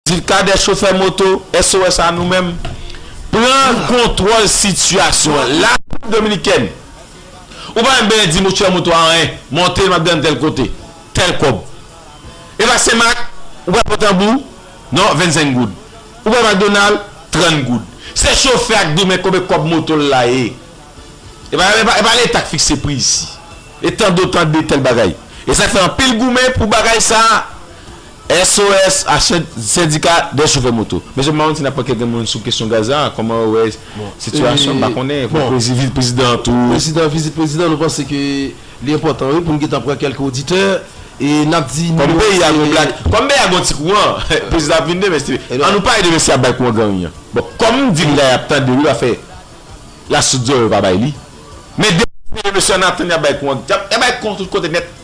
Dil Cadet chofè moto SOS a nou menm pran kontwòl sitiyasyon an la Repiblik Dominikèn ou pa menm benyen di mouchwè moto a anyen monte l map desann tèl kote tèl kòb epa senmak ou pral pran tanbou non 25 goud ou pral McDonald 30 goud se chofè a k di w men konbe kòb moto l la ye epa epa leta k fikse pri isi e tande w tande tèl bagay e sak fè anpil goumen pou bagay sa. SOS a sendika dè chofè moto. Mesye m pa konn si n ap pran kèk moun sou kesyon gaz la, kòman yo wè sitiyasyon, m pa konnen, pou vizit prezidan tou. Prezidan, vizit prezidan nou panse ke li enpòtan wi pou n gentan pran kèlke oditè e n ap di nimewo se. Kòm peyi a gon blak, kòm peyi a gon ti kouran, prezidan ap vin demen si te vle. An nou pale de mesye y ap bay kouran gran ri an. Bon, kòm m di li la y ap tande wi pa fè lasoudè yo pa bay li. Men depi m di mesye an nou ap tann y ap bay kouran, y ap bay kouran tout kote nèt.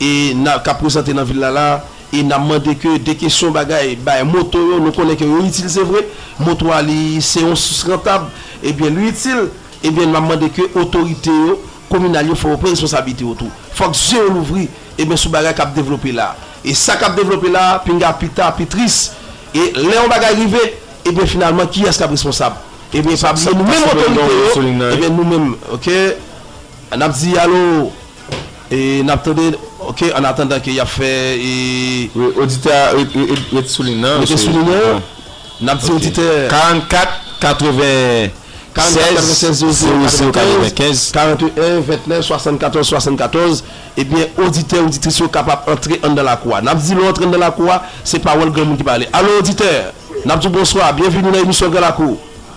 e na kap prezante nan vil la la e na mande ke de kesyon bagay bay moto yo nou konnen ke yo itil se vre moto a li se yon sous rantab e byen li itil e byen na mande ke otorite yo kominal yo fò yo pran responsablite yo tou fòk zye yo louvri e byen sou bagay kap devlope la e sa kap devlope la pinga pi ta pi tris e lè yon bagay rive e byen finalman kiyès kap responsab e byen pa bliye nou menm otorite yo e byen nou menm ok. N ap di alo e n ap tande ok an atandan ke y ap fè e. Wi, oditè a rete sou lin nan. Rete sou lin nan. N ap di oditè. 44 96 0095. 41 29 74 74. Ebyen oditè oditris yo kapab antre anndan lakou a. N ap di lè w antre anndan lakou a, se pawòl granmoun ki pale. Alo oditè! N ap di w bonswa, byenvini nan emisyon Gran Lakou.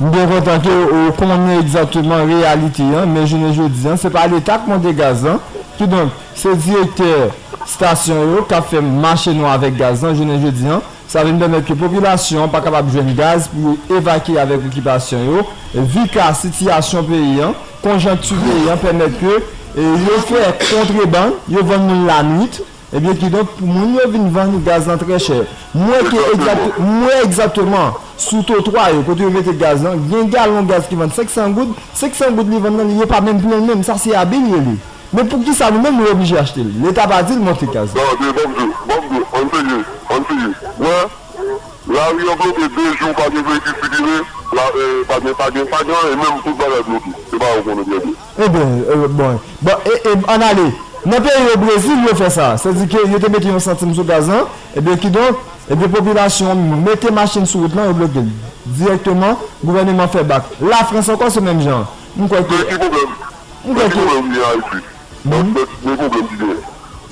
M byen kontan ke w konnen egzakteman reyalite an, men jounen jodi an, se pa Leta k monte gaz lan, kidonk, se direktè stasyon yo k ap fè mache nwa avèk gaz lan jounen jodi an. Sa vin pèmèt ke popilasyon an pa kapab jwenn gaz pou yo evakye avèk okipasyon yo. Vu ka sitiyasyon peyi an, konjankti peyi an pèmèt ke yo fè kontrebann, yo vann moun lanwit. Ebyen kidonk pou moun yo vin vann gaz lan trè chè. Mwen ke egzat, mwen egzateman sou totwa yo kote yo mete gaz lan, gen galon gaz ki vann 500 goud, 500 goud li vann lan li yo pa menm plenl menm, sa se abi li rele. Men poukisa nou menm nou oblije achtel? Leta pa dil monte gaz lan. Tande banm diw, banm diw, ann seye, ann seye. Wè, lari an bloke 2 jou pa gen veyikil sikile, la pa gen, pa gen, pa gen anyen menm tout bagay bloke. Se bagay ou konnen trè byen. Ebyen bon bon eeb ann ale nan peyi yo Brezil yo fè sa sèdike yo te mete yon santim sou gaz lan ebyen kidonk ebyen popilasyon an mete machin sou wout lan yo blokel dirèkteman gouvèneman fè bak lafrans ankò se menm jan m kwè ke m kwè ke.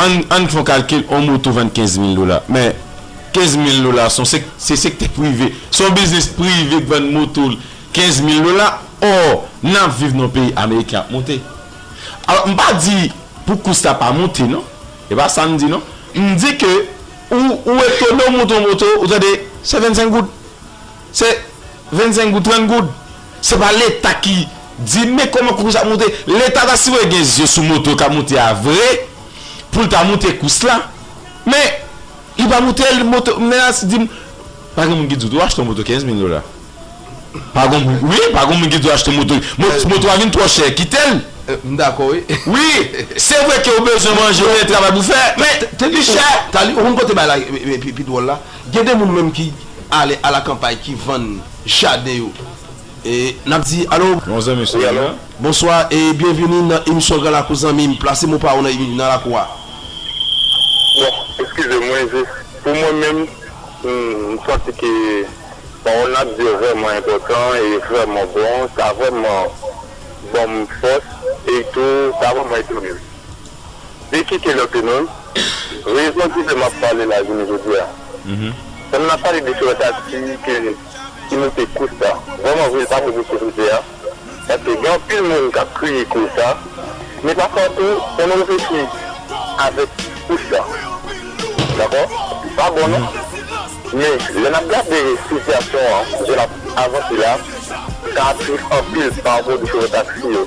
Ann ann fon kalkil on moto vann 15 mil dola men 15 mil dola son se se sektè prive son biznis prive k vann moto l 15 mil dola or nap viv nan peyi ameriken ap monte alò m pa di pou kous la pa monte non e pa sa m di non m di ke ou ou etone ou monte on moto ou tande se 25 goud. Se 25 goud 30 goud. Se pa leta ki Di men koman kous ap moute leta ta sipoze gen zye sou moto kap moute a vre poul ta moute kous la men Li pa moutel moto menas dim pa gen moun ki di w tou achte yon moto 15 mil dola pa gon moun wi pa gon moun ki di w achte yon moto moto a vin twò chè kitel m dakò wi wi se vre ke ou bezwen manje ou gen travay pou fè men li chè. Talie ou konn kote bagay la pi dwòl la Gen de moun menm ki ale a la kanpay ki vann jaden yo e nap di alo. Yon zanmi sou liy la. Bonswa e byenvini nan emisyon gran lakou zanmim plase mo paw nan lakou a. Bon eskize mwen jis pou mwen menm m santi ke pawòl nap di yo vrèman enpòtan e vrèman bon sa vrèman banm fòs e tou sa vrèman edem. De ki Taylor Penon, rezon ki fè map pale la jounen jodi a. Pandan nap pale de Taylor Taxi ke ki moute kous la, vrèman vre li pa bon pou sosyete a, paske gen anpil moun kap kriye koz sa, men pafwa tou fò nou reflechi avèk kous la. Dakò? Li pa bon non. Men lè nap gade sitiyasyon an jan lap avanse la, sa ap tris anpil pa rapò de chofè taxi yo.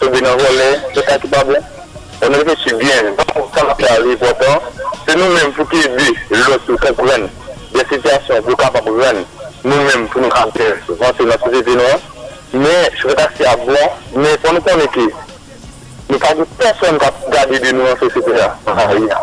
Tonbe nan vòlè se sa ki pa bon on reflechi byen van sa nap fè a li enpòtan se nou menm pou ki ede lòt yo konprann dè sitiyasyon pou yo kapab rann nou menm pou nou ka byen vanse nan sosyete nou an men chofè taksi a bon men fò nou konnen ke nou pa gen pèsòn kap gade de nou nan sosyete a nan lari a.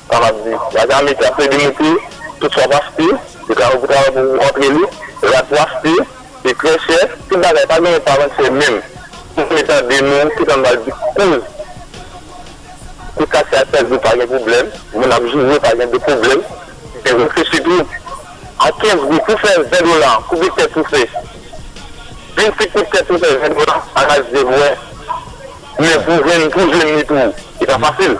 Sa m ap di. La Jamik la ple demontre tout sa w pa site. Yo travay pou travay pou antre li. Rad pou achte. Li trè chè. Tout bagay. Pa gen yon pa vann chè menm. Pou vle tande nou. Tout sa nou pral di. Kouz. Kouz kache ak tèt di pa gen pwoblèm. Moun ap joure pa gen de pwoblèm. Gen reflechi tou. A 15 goud pou fè 20 dola. Koube tèt ou fè. Vin si koud tèt ou fè 20 dola. Ala jèn wè. Men pou jwenn li tou. Li pa fasil.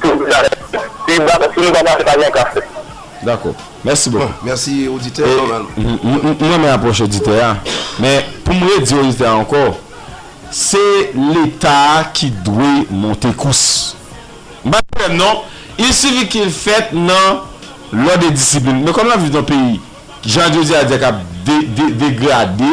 Pou dakò si nou pa mache pa gen kafe. Dakò. Mèsi bokou. Mèsi oditè Ronald. M renmen apwòch oditè a men pou m redi oditè a ankò se leta a ki dwe monte kous. M pa gen pwoblèm non il sifi ke l fèt nan lòd e disiplin men kòm n ap viv nan peyi jan jodi a di a k ap degrade.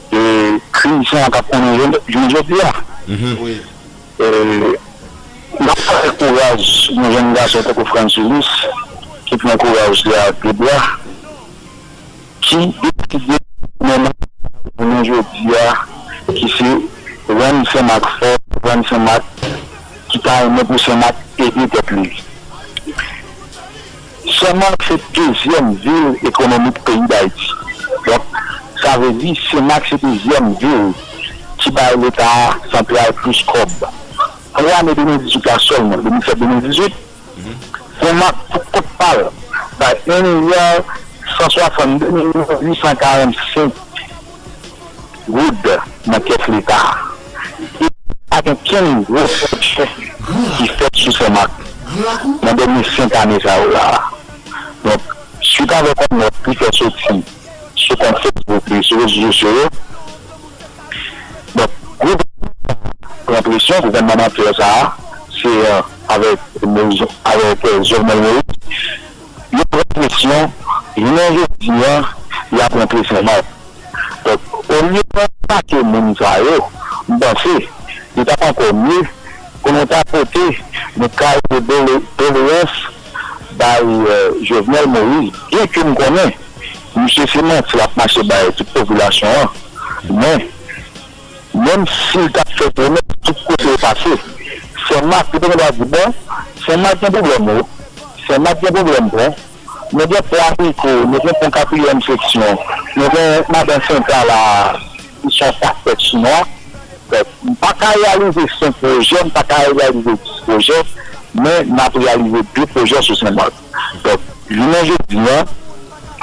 E krim sa a t ap konnen jounen jodi a. E n ap salye kouraj yon jenn gason tankou Frantz Ulysse ki pran kouraj li a ak de bra, ki deside mennen nou jounen jodi a, ki se rann Sen Mak fò, rann Sen Mak ki ta renmen pou Sen Mak ede pèp li. Senmak se dezyèm vil ekonomik peyi Dayiti. Donk, sa vle di Senmak se dezyèm vil ki bay leta santral plis kòb. Pou ane 2018 la sèlman, 2017-2018, Senmak pou kont pa l bay 1 milya 162 milyon 845. goud nan kès leta a e pa gen okenn gwo pwojè ki fèt sou Senmak nan dènye senk ane sa yo la a. Donk, suit avèk yon nòt li fè soti sou kont Facebook li sou rezo sosyo yo, donk, gouvènman sa a pran presyon, gouvènman mantè sa a, se avèk Jovenel Moïse. Yo pran presyon, jounen jodi a, y ap rantre san mak. Donk, olye pou nou atake moun sa yo, m panse li t ap ankò mye pou nou ta pote yon kal de doleyans bay Jovenel Moïse, byenke m konnen misye se manti l ap mache bay tout popilasyon an, men. Menm sil tap fè pwomès tout kote yo pase Sen Mak yo te gen dwa di bon Sen Mak gen pwoblèm wi Sen Mak gen pwoblèm pon nou gen pon Abriko nou gen pon katriyèm seksyon nou gen madan senta la ki son pakèt chinwa donk m paka reyalize senk pwojè m paka reyalize dis pwojè men map reyalize de pwojè sou Sen Mak. Donk, jounen jodi an,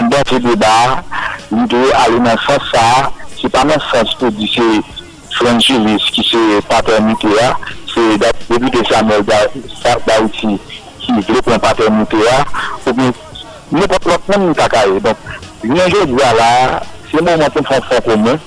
anba se deba a, li dwe ale nan sans sa a, se pa nan sans pou di se Frantz Julius ki se patènite a, se Depite Samuel Darity ki vle pran patènite a, oubyen nenpòt lòt moun li ta ka ye. Donk, jounen jodi a la a, se moman pou n fè yon fon komen.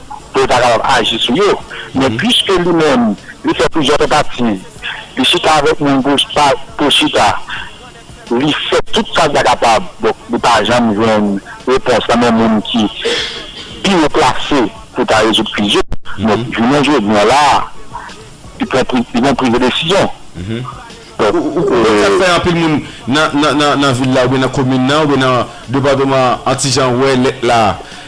pou yo ta kapab aji sou yo. Men piske li menm li fè plizyè tantativ, li chita avèk moun pou chita, li fè tout sa li ta kapab, donk li pa janm jwenn repons nan men moun ki pi wo plase pou ta rezoud kriz yo. Donk jounen jodi an la a, li pran plizyè desizyon. Ou konn sak fè anpil moun nan vil la oubyen nan komin nan oubyen nan departeman an ti jan wè lèt la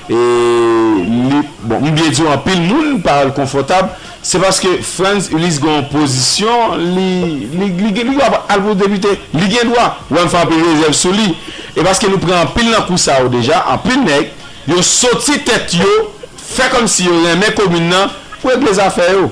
e li bon m byen diw anpil moun pa wèl konfòtab se paske Frantz Ulysse gen yon pozisyon li li gen dwa al pou depite li gen dwa wè m fè anpil rezèv sou li e paske nou pran anpil nan kou sa yo deja anpil nèg yo soti tèt yo fè kòmsi yo renmen komin nan pou regle zafè yo.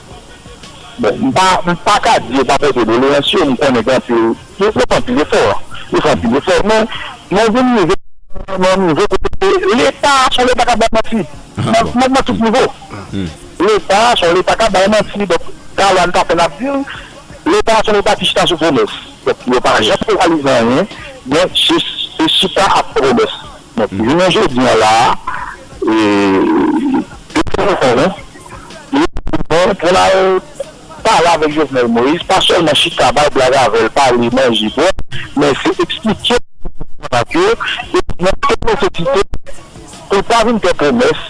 Bon, m pa, m pa ka di yo pa pote doleyans yo, m konnen gen anpil, yo fè anpil efò, yo fè anpil efò men nou vin rive nan yon nivo kote leta a se yon leta k ap bay manti nan nan tout nivo. Leta a se yon leta k ap bay manti donk ta lwa n ta fè n ap di l leta a se yon leta ki chita sou pwomès donk yo pa janm reyalize anyen men se se chita ak pwomès. Donk jounen jodi an la a, depi ke nou konnen, li bon pou n al pale avèk Jovenel Moïse, pa sèlman chita bay blag avè l, pale, manje, bwè, men se eksplike l tout sa n ap yo, e montre l nesesite pou l pa vin fè pwomès.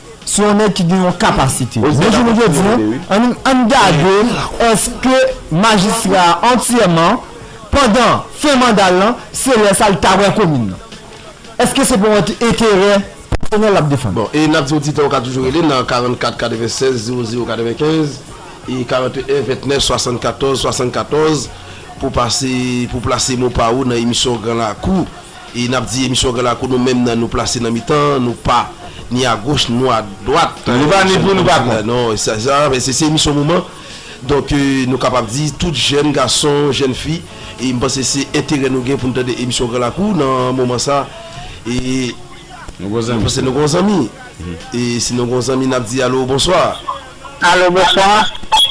sou yon nèg ki gen yon kapasite. Men jounen jodi an, ann gade èske majistra a antyèman, pandan fen manda l lan, se lè sa l ta wè komin nan. Èske se pa yon enterè pèsonèl l ap defann? Bon, e n ap di oditè yo ka toujou rele nan 44 96 00 95 e 41 29 74 74 pou pase, pou plase mo pa ou nan emisyon Gran Lakou. E nap di emisyon Gran Lakou nou menm nan nou plase nan mitan, nou pa ni a goch nou a dwat. Nou pa ni pou nou pa kont. Non, se sa, men se emisyon moman. Donk nou kapab di tout jèn gason, jèn fi, e m panse se enterè nou gen pou nou tande emisyon Gran Lakou nan moman sa e Nou gon zanmi. M panse nou gon zanmi. E si nou gon zanmi nap di alo bonswa. Alo bonswa.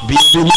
Byenveni.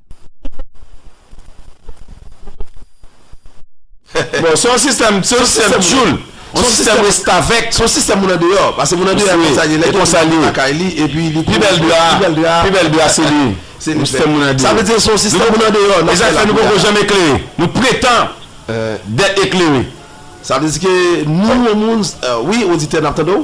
Bon se yon sistèm se yon sistèm tchoul se yon sistèm restavèk se yon sistèm moun andeyò pase moun andeyò ap konsa li lè gen moun nan lakay li epi li pi bèl dra pi bèl dra se li se li fè sa vle di se yon sistèm moun andeyò e sa k fè nou poko janm eklere nou pretan dèt eklere sa vle di ke nou moun wi oditè n ap tande w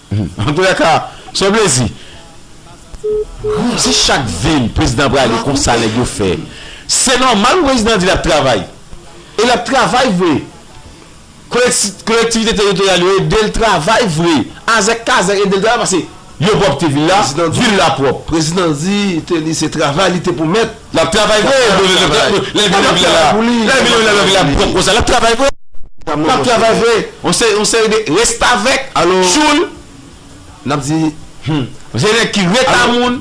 Antoulèka se yon plezi. Humm si chak vil prezidan prale konsa nèg yo fè se nòmal pou prezidan di lap travay e lap travay vre kolektivite teritoryal yo edel travay vre azèk kazèk edel travay pase yo pwòpte vil la vil la pwòp. Prezidan di te li se travay li te pou mèt. Lap travay vre lè vin nan vila pou li lè vin nan vila pwop konsa lap travay vre lap travay vre yon seri de restavèk tchoul nap di humm se nèg ki reta moun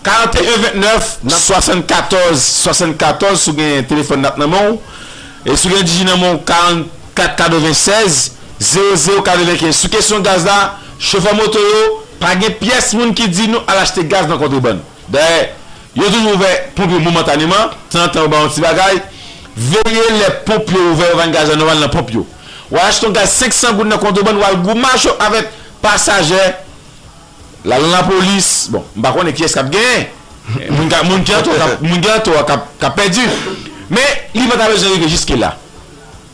41 29 74 74 sou gen telefòn nap nan menw e sou gen digi nan menw 44 96 00 95 sou kesyon gaz la chofè moto yo pa gen pyès moun ki di nou al achte gaz nan kontrebann. Dayè, yo toujou ouvè ponp yo momentaneman, tanzantan yo ba yon ti bagay. Veye lè ponp yo ouvè yo vann gaz la nòmal nan ponp yo. W al achte yon gaz 500 goud nan kontrebann, w al gwo mache avèk pasajè, l al nan lapolis. Bon, m pa konnen kiyès k ap genyen. Moun ki an tò a k ap pèdi. Men, li pa ta bezwen rive jiskela.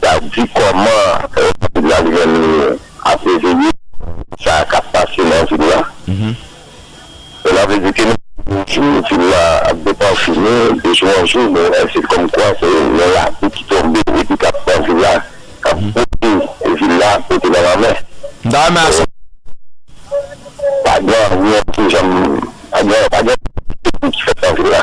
Sa di kòman Lapolis la li menm li ap reveye sa k ap pase nan vil la. Sela vle di ke nou gen jou vil la ap depanfini, de jou an jou nou wè se kòmkwa se yon lapli ki tonbe epi k ap pran vil la, k ap pote vil la pote nan lanmè. M ta renmen asepte. Pa gen anyen ki janm, pa gen anyen ki fèt nan vil la.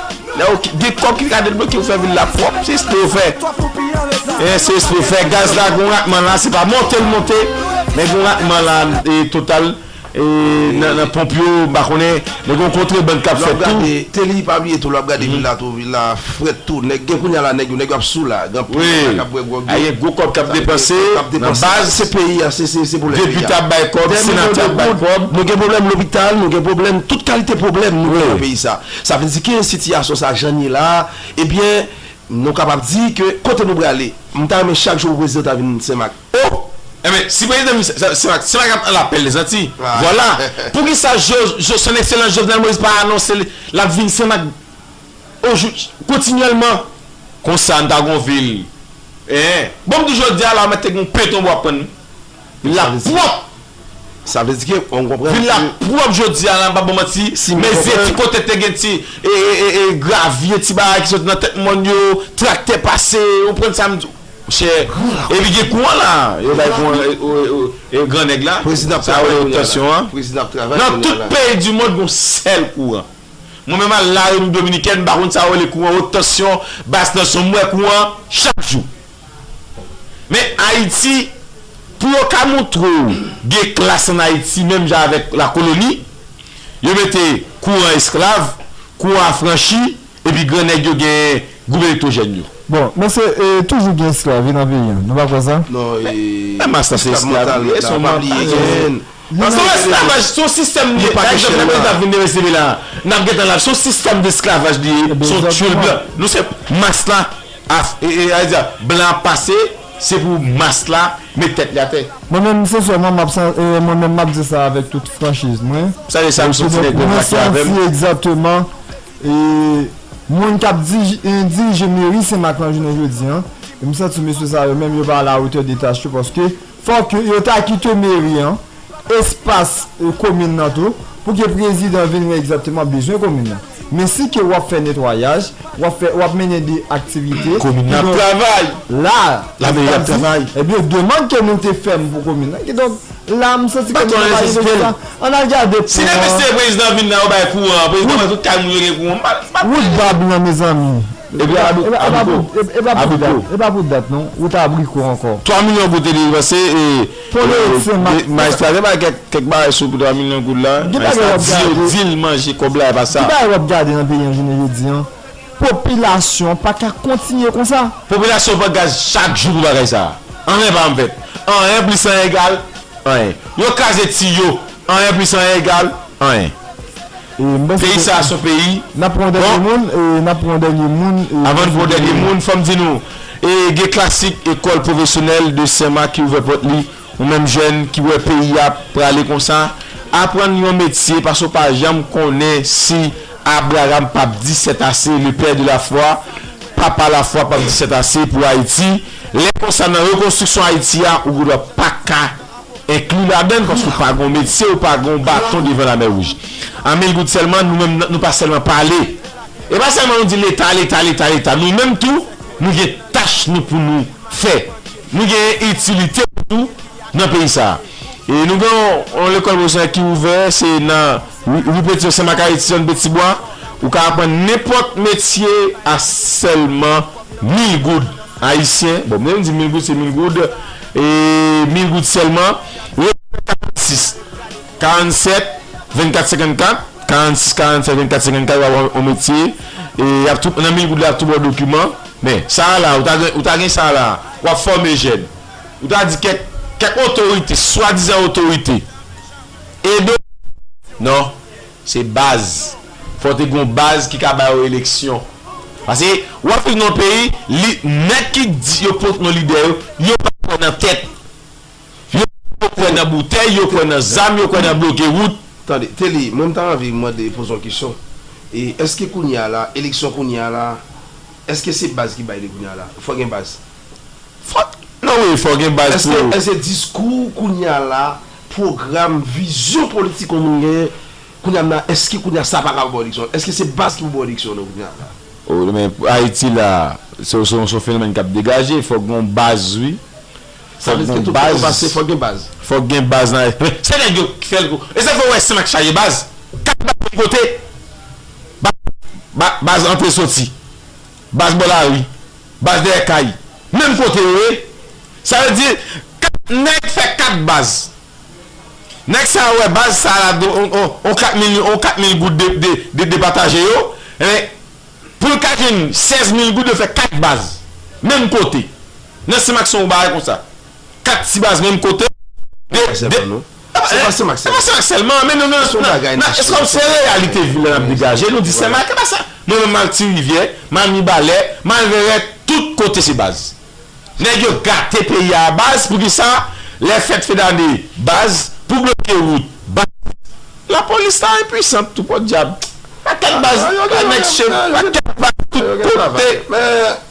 Lè ou gen kòb ki ka debloke ou fè vil la pwòp, se espre ou fè. E se espre ou fè. Gaz la gen yon ratman la, se pa monte l monte, men gen yon ratman la e total e nan ponp yo, m pa konnen, men gen yon kontreband k ap fèt tou. Telly, pa bliye tou lè w ap gade vil la tou, vil la frèt tou. Nèg gen kounye a la, nèg yo, nèg yo ap sou la. Gen anpil nèg la k ap bwè gwòg yo. Wi. Gen gwo kòb k ap depanse nan baz. Se peyi a, se se pwoblèm peyi a. Depite ap bay kòb, senatè ap bay kòb. Nou gen pwoblèm lopital, nou gen pwoblèm, tout kalite pwoblèm nou gen nan peyi sa. Sa vle di ke sitiyasyon sa jan n ye la a, ebyen nou kapab di ke kote nou prale? M ta renmen chak jou pou prezidan ta vin Senmak. Oh! Enben, si prezidan vin Senmak, Senmak ap an lapèl Lezantiy. Vwala! Poukisa Son Ekselans Jovenel Moïse pa anonse l ap vin Senmak o jou, kontinyèlman? Konsa n ta gon vil. Eeh! Bon m di jodi a la, mèt te gen yon pentonbo ap tann nou. L ap pwòp! Sa vle di ke ou konprann ke. Vil la pwòp jodi a la m pa ba w manti. Si m konprann. Mezi ti kote te gen ti gravye, ti bagay ki soti nan tèt mòn yo, traktè pase, ou konprann sa m di w. Chè. Gran lakou. Epi gen kouran la. Yo bay kouran e gran nèg la. Prezidan ap travay kounye a la. Sa yo rele optasyon an. Prezidan ap travay kounye a la. Nan tout peyi di mond gen yon sèl kouran. Mwen menm al la Repiblik Dominikèn m pa konn sa yo rele kouran, wot tansyon, bas tansyon m wè kouran chak jou. Men Ayiti, pou yo ka montre w gen klas ann Ayiti menm jan avèk lakoloni, yo mete kouran esklav, kouran afranchi epi gran nèg yo gen gwoup elektwojèn yo. Bon, mesye, toujou gen esklav wi nan peyi an. Nou pa kwè sa? Non, e, esklav mantal nèg la, pa bliye gen. Moun nan rete la wi. Nou pa gen chèn nan. Mwen menm sensèman map san mwen menm map di sa avèk tout franchiz mwen mwen santi egzateman moun kap di dirije meri senmak lan jounen jodi an msanti mesye sa yo menm yo pa a la otè de tach yo paske Fòk yo ta kite meri an, espas komin nan tou, pou ke prezidan vin wè egzakteman bezwen komin nan. Men si ke wap fè netwayaj, wap fè, wap mennen de aktivite. Komin nan ap travay! La, Lameri ap travay! Ebyen demand ke nou te fèm pou komin nan, kidonk la m santi komin nan pa gen bezwen sa. An al gade pon an. Si depi se prezidan vin la yo bay kouran, prezidan wè tout kay moun yo gen kouran, m pa, m pa. Wout bab lan mezanmi! Epi abriko. Epa pou dat non, ou ta abriko anko. 3 milyon goud te depanse e maestro a te bay kek bagay sou 3 milyon goud la. Maestro a di yo di l manje kob la epa sa. Ki bagay wap gade nan peyi an jounen jodi an? Popilasyon pa ka kontinye konsa. Popilasyon pran gaz chak jou pou bagay sa. Anyen pa janm fèt. Anyen plis anyen egal anyen. Yo kraze tiyo. Anyen plis anyen egal anyen. Peyi sa a son peyi bon Avan n pran yon dènye moun fò m di nou gen klasik ekòl pwofesyonèl de Senmak ki ouvè pòt li Ou menm jèn ki wè peyi a ap prale konsa aprann yon metye paske ou pa janm konnen si Abraram p ap di sètase le père de la foi Papa lafwa p ap di sètase pou Ayiti Lè konsa nan rekonstriksyon Ayiti a ou gendwa pa ka Enkli ladann paske w pa gen yon medsen, w pa gen yon baton devan lamè wouj. A mil goud sèlman, nou menm nou pa sèlman pale. E pa sèlman nou di leta, leta, leta, leta. Nou menm tou, nou gen tach nou pou nou fè. Nou gen yon itilite nou tou nan peyi sa a. E nou gen yon lekòl pwofesyonèl ki ouvè, se nan Rue Pétion, Sen Mak Ayiti, zòn Petibwa. Ou ka aprann nenpòt metye a sèlman mil goud ayisyen. Bon, menm di mil goud, se mil goud. E mil goud sèlman Retirement 46 47 24 54 46 47 24 54 wap wè yon metye e yap tou nan mil goud la yap tou baw dokiman men sa a la ou ta gen ou ta gen sa a la wap fòme jèn ou ta di kèk kèk otorite swadizan otorite ede w nan. Se baz. Fò te gon baz ki ka ba yo eleksyon. Pase ou ap viv nan yon peyi li nèg ki k di yo kont yon lidè yo, yo pa kwè nan tèt. Yo pito kwè nan boutèy, yo kwè nan zam, yo kwè nan bloke wout. Tande, Telly, mwen m ta anvi mande, poze yon kesyon. E, èske kounye a la, eleksyon kounye a la, èske se baz ki bay li kounye a la? Fò gen baz. Fò, non wi, fò gen baz pou. Èske, èske diskou kounye a la, pwogram, vizyon politik yon moun genyen kounya m nan èske kounya sa pa kapab eleksyon èske se baz ki pou pou eleksyon nou kounya la. O men pou ayiti la se se yon fenomèn kap degaje fòk gen yon baz wi Sa vle di ke tout kote ou pase fòk gen baz. Fòk gen baz nan men se nèg yo ki fèl tou e sa fè ou wè snmak chaje baz kap bay kote baz antre soti. Baz bò lari, baz dèyè kay, menm kote yo ye, sa vle di 4 nèg fè 4 baz. Nèg sa yo wè baz sa la do on 4 mil on 4 mil goud de de de depataje yo, enben pou l ka jwenn 16 mil goud yo fè 4 baz menm kote. Nan simak son w bagay konsa. 4 ti baz menm kote, de de. Se pa Senmak sèlman. Se pa Senmak sèlman. Men nou nan. Son bagay nan chire. Eskonm se reyalite vil la nap degaje. Nou di Senmak e pa sa. Mwen menm mal Ti Rivyè, mal Mibalè, mal Vèrèt, tout kote se baz. Nèg yo gate peyi a baz. Poukisa lè fèt fedane baz. Pou bloke wout baz. Lapolis la enpuisant tou podyab. Pakèt baz. Pakèt baz tout kote.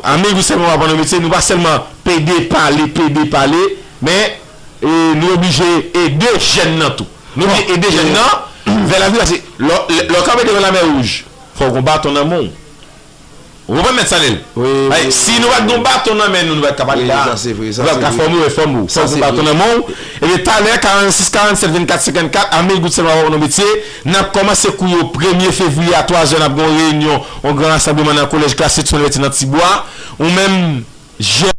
Anmeyy nou sèlman pa pandan metye nou pa sèlman pede pale pede pale men nou oblije ede jèn nan tou nou oblije ede jèn nan vè lavni paske lè w kanpe devan lamè wouj fò w gon baton nan men w ou konprann mèt Sanel si nou pat gon baton nan men nou nou pat ka pale la nou pat ka fòme w e fòme w fò w gon baton nan men w ebyen talè 46 47 24 54 anmeyy nou sèlman pa pandan metye. Nap kòmanse kou yo premye fevriye a 3 zè nap gen yon reyinyon yon gran rasanbleman nan kolèj klas Edson Verti nan ti bwa ou menm jè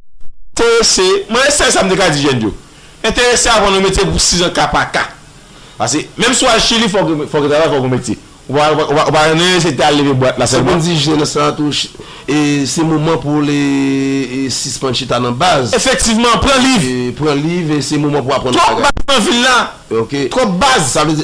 terese mwen e sèl sa m te ka di jèn yo enterese avan nou metye pou 6 an ka pa ka pase menm si w al chili fòk fòk gen travay fòk gen metye ou pa ou pa ou pa nerese te al leve bwat la sèlman. Sepann di jèn nan sa tou e se moman pou l e sispann chita nan baz. Efektivman pran liv. Pran liv e se moman pou aprann bagay. Twòp baz nan vil la twòp baz.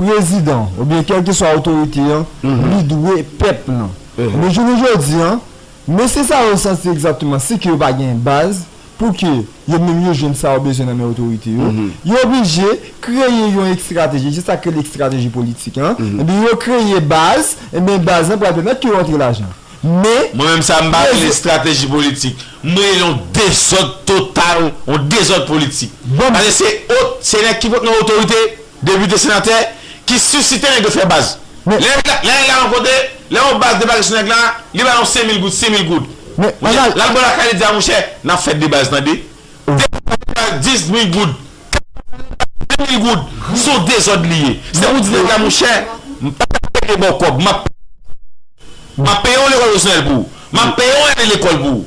Prezidan ou byen kèlkeswa otorite an li dwe pèp lan. Men jounen jodi an, mesye sa yo santi egzatteman se ke yo pa gen baz pou ke yo menm yo jwenn sa yo bezwen nan men otorite yo. Yo oblije kreye yon ekstrateji, se sa k rele ekstrateji politik an. Ebyen yo kreye baz, ebyen baz lan pral pèmèt ke yo antre lajan. Men. Mwen menm sa m pa rele estrateji politik. M rele l yon dezòd total, yon dezòd politik. Paske se o, se nèg ki pot nan otorite Depite senatè ki sisite nèg yo fè baz. Lè nèg la yon kote, lè yon baz debake sou nèg la, li ba yon senmil goud, simil goud. Mouche, lal bo lakay li di a mouche, nap fè debaz tande. Depi lè nèg la gen dizmil goud, kanpay la li ba senmil goud, son dezòd li ye. Se pou di nèg la mouche, m pa tap rete ba w kòb, map peye w lekòl. Map peye yon lekòl pwofesyonèl pou ou. Map peye yon ane lekòl pou ou.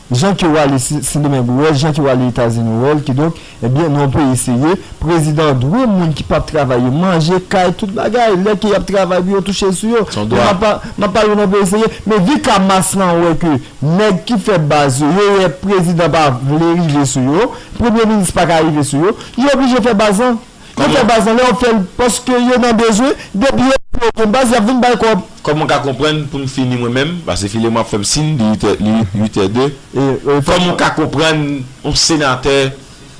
Jan ke w ale Sendomeng ou wè l, jan ke w ale Etazini ou wè l, kidonk, ebyen, nan yon peyi serye, prezidan dwe moun ki p ap travay yo, manje, kay, tout bagay, lè ke y ap travay pou yo touche sou yo. Son dwa. M ap pale w nan peyi serye, men vi ka mas lan wè ke nèg ki fè baz yo, yo wè prezidan pa vle rive sou yo, premye minis pa ka rive sou yo, yo oblije fè baz lan. Yo fè baz lan lè yo fèl paske yo nan bezwen depi yo pa gen baz yap vin bay kòb. Kòman ka konprann poum fini mwen menm pase filemon ap fèm sin li 8 li 8 è 2 kòman ka konprann on senatè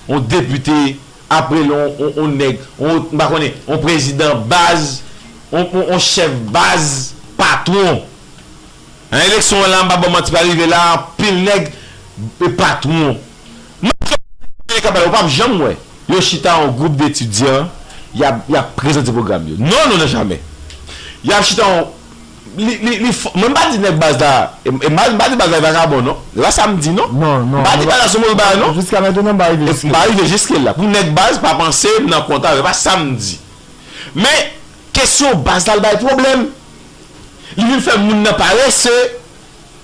on depite aprel on on nèg on m pa konnen on prezidan baz on on chèf baz patwon nan eleksyon an la m pa baw manti pa rive la anpil nèg patwon Manzè yo nan pale kaba yo pap janm wè yo chita an gwoup detidyan yap yap prezante pwogram yo non non nan jamè yap chita an li li li fò mwen pa di nèg baz la e mal mpa di baz la vakabon non e pa sam di non Non non mpa di baz la son move bagay non jiska nan jounen mpa rive jiske mpa rive jiske la pou nèg baz pa panse mnan konta yo e pa sam di men kesyon baz la l bay pwoblèm li vin fè moun nan parese.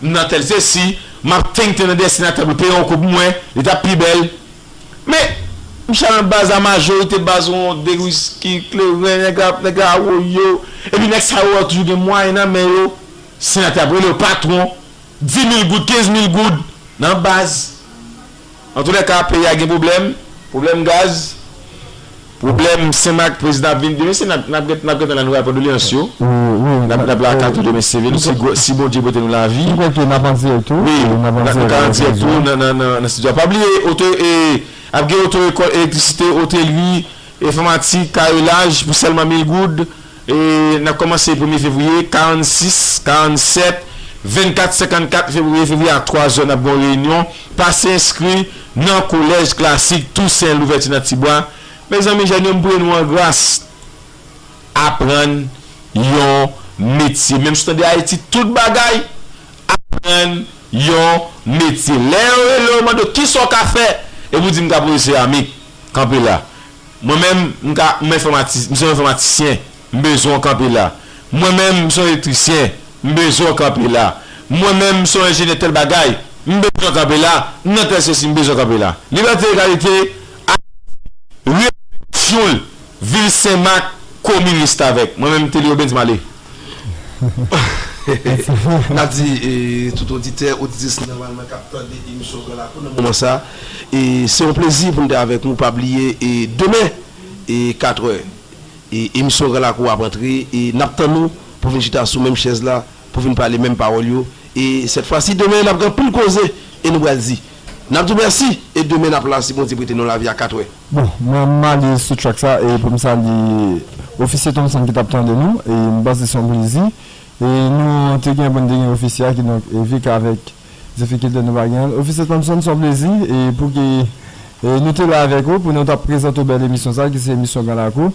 M nan tèl se si m ap tenten nan dèstin a ta dwe peye yon kou pou mwen li tap pi bèl men m chita nan baz la majorite baz ou yon de wisky kleren nèg la nèg la awoyo epi nèg sa yo toujou gen mwayen nan men yo senatè ap rele yo patwon di mil goud kenz mil goud nan baz Antoulèka peyi a gen pwoblèm, pwoblèm gaz, pwoblèm Senmak, prezidan ap vin demen se nan nap nap gentan la nou pral pran dolyans yo, nap nap la kato demen se vre si gwo si Bondye pote nou lavi. Mwen kwè ke nap an dirèk tou. Wi, nou ka an dirèk tou nan nan nan nan studio a. Pa bliye oto e ap gen oto ekòl elektrisite, otelri, enfòmatik, karelaj pou sèlman mil goud. E nan kòmanse premye fevriye, 46, 47, 24, 54 fevriye, fevriye a 3 zè n ap gen yon reyinyon, pase enskri nan kolèj klasik Tousen Louvèti nan Tibwa. Mezanmi jèn yo m priye nou an gras aprann yon metye menm si w tande Ayiti tout bagay aprann yon metye lè yo rele w mande w kisa w ka fè epi w di m ka pwofesè a mi kanpe la. Mwen menm, m ka, m enfòmati, m se yon enfòmatisyen, m bezwen w kanpe la. Mwen menm, m se yon elektrisyen, m bezwen w kanpe la. Mwen menm, m se yon enjenyè tèl bagay, m bezwen w kanpe la, m nan tèl sosi, m bezwen w kanpe la. Libète, Egalite, Ayiti, redaksyon, Vil Senmak, komin restavèk. Mwen menm, Telly Obens, m ale. N ap di tout oditè, oditris nòmalman k ap tande emisyon Gran Lakou nan moman sa, se yon plezi pou n te avèk nou. Pa bliye demen katrè emisyon Gran Lakou ap antre e n ap tann ou pou vin chita sou menm chèz la, pou vin pale menm pawòl yo. E sèt fwa si demen n ap gen anpil koze e nou pral di. Nap diw merci e demen nap la si Bondye prete nou lavi a 4 wè. Bon mwen m ale sou track sa e pou m salye ofisye Thomson ki tap tande nou e m panse se yon plezi e nou te gen pou n te gen ofisye a kidonk evik avèk difikilte nou pa gen l ofisye Thomson se yon plezi e pou ke nou te la avèk ou pou nou tap prezante w bèl emisyon sa ki se emisyon gran lakou